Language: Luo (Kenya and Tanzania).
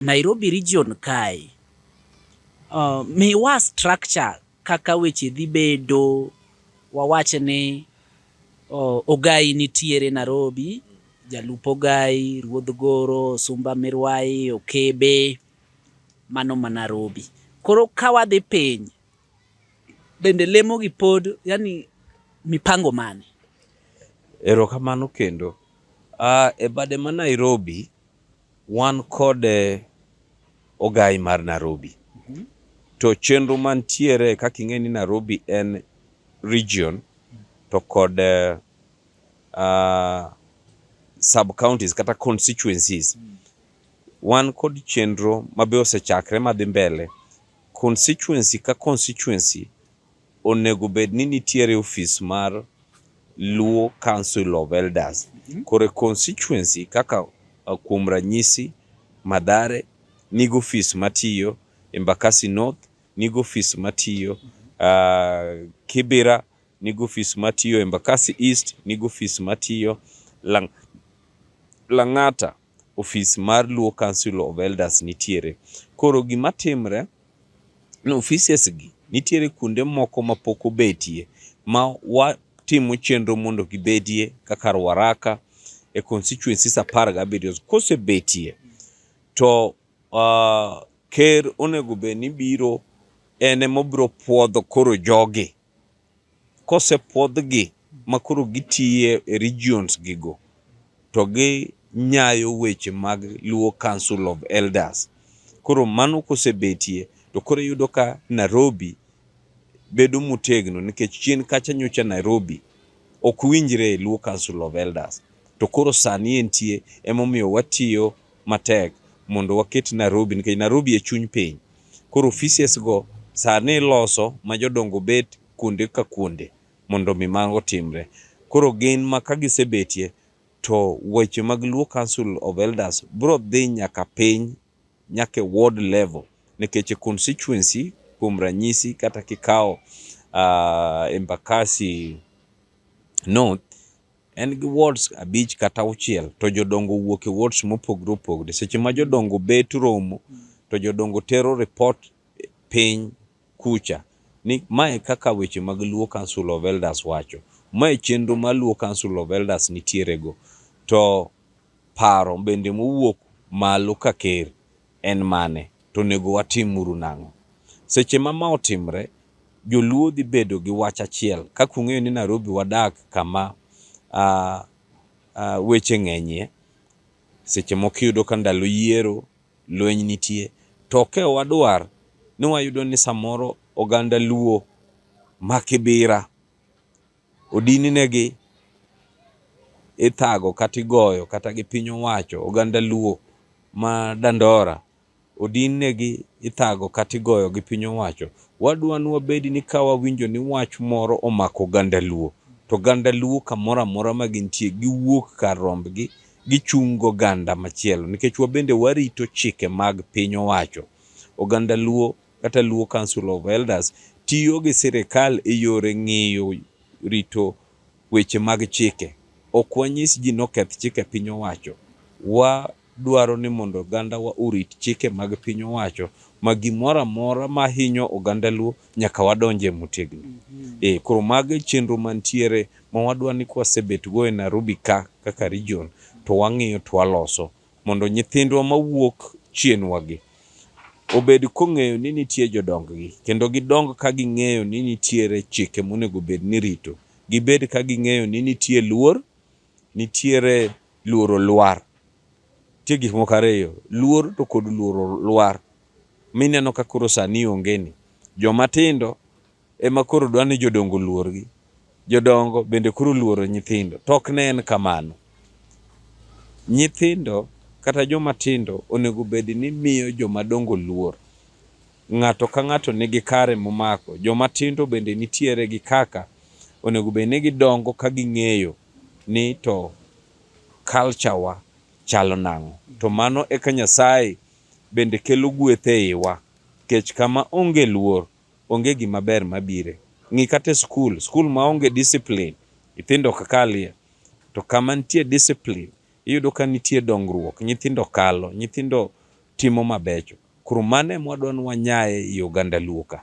Nairobi region kae. Uh, miwa structure kaka weche dhi bedo wawach ni uh, Ogai nitiere Nairobi, Jalup Ogai, Ruodh Goro, Sumba Mirwai, Okebe, mano ma Nairobi. Koro ka wadhi piny, bende lemo gi pod yani mipango mane? Erokamano kendo. Uh, e bade ma Nairobi Wan kod eh, ogai mar Narobi. Mhm. To chenro mantiere kaka ing'e ni Narobi en region to kod uh, uh, sub counties kata constituencies mm. wan kod chenro mabe osechakre madhi mbele constituency ka constituency onego bed ni nitiere ofis mar Luo Council of Elders mhm. kore constituency kaka uh, kuom ranyisi Madhare nigo ofis matiyo, Embakasi North nigo ofis matiyo, uh, Kibira nigo ofis matiyo, Embakasi East nigo ofis matiyo, Lang Lang'ata ofis mar Luo Council of Elders nitiere. Koro gima timre ni offices gi nitiere kuonde moko ma pok obetie ma watimo chenro mondo gibedie kaka Ruaraka e constituencies apar gabiriyo. Kosebetie to uh, ker onego bed ni biro en emobiro puodho koro jogi Kosepwodhgi ma koro gitiye e regions gigo to gi nyayo weche mag Luo Council of Elders. Koro mano kosebetie to koro iyudo ka Nairobi bedo motegno nikech chien kacha nyocha Nairobi ok winjre e Luo Council of Elders. To koro sani entie emomiyo watiyo matek mondo waket Nairobi nikech Nairobi e chuny piny. Koro offices go sani iloso ma jodongo bet kuonde ka kuonde mondo mi mago timre. Koro gin ma ka gisebetie to weche mag Luo Council of Elders bro dhi nyaka piny nyaka e ward level nikech e constituency kuom ranyisi kata kikawo uh, Embakasi North en gi wards abich kata auchiel to jodongo wuok e wards mopogore opogore. Seche ma jodongo bet romo to jodongo tero report piny kucha ni mae kaka weche mag Luo Council of Elders wacho. Mae chenro ma Luo Council of Elders nitiere go. To paro bende mowuok malo ka ker en mane, to onego watim uru nang'o? Seche ma ma otimre, joluo dhi bedo gi wach achiel kaka ung'eyo ni Nairobi wadak kama uh, uh, weche ng'enyie seche moko iyudo ka ndalo yiero lweny nitie to ok e wadwar ni wayudo ni samoro oganda luo makibira odininegi ithago kata igoyo kata gi piny owacho oganda luo ma dandora odininegi ithago kata igoyo gi piny owacho wadwa ni wabedi ni ka wawinjo ni wach moro omako oganda luo to oganda luo kamoro amora ma gintie giwuok kar rombgi gichung' go oganda machielo nikech wabende warito chike mag piny owacho oganda luo kata Luo Council of Elders tiyo gi sirikal e yore ng'iyo rito weche mag chike. Ok wanyis ji noketh chike piny owacho. Wadwaro ni mondo ogandawa orit chike mag piny owacho ma gimoro amora ma hinyo oganda Luo nyaka wadonje motegno. Mm -hmm. E, koro mago e chenro mantiere ma wadwa ni kwasebetgo e Nairobi ka kaka region to wang'iyo to waloso. mondo nyithindwa mawuok chienwagi obed kong'eyo ni nitie jodonggi kendo gidong ka ging'eyo ni nitiere chike monego bed ni rito gibed ka ging'eyo ni nitie luor nitiere luoro lwar nitie gik moko ariyo luor to kod luoro lwar mineno ka koro sani ongeni jomatindo ema koro dwa ni jodongo oluorgi. Jodongo bende koro oluoro nyithindo. To ok ne en kamano. Nyithindo kata joma tindo onego bed ni miyo joma dongo luor. Ng'ato ka ng'ato nigi kare momako. Joma tindo bende nitiere gi kaka onego bed ni gidongo ka ging'eyo ni to culture wa chalo nang'o. To mano eka Nyasaye bende kelo gweth e iwa. Nikech kama onge luor. onge gima ber mabire. Ng'i kata e skul, skul maonge discipline, nyithindo ok kalie. To kama nitie discipline, iyudo ka nitie dongruok, nyithindo kalo, nyithindo timo mabecho. Koro mano ema wadwa ni wanyae ei oganda luo ka.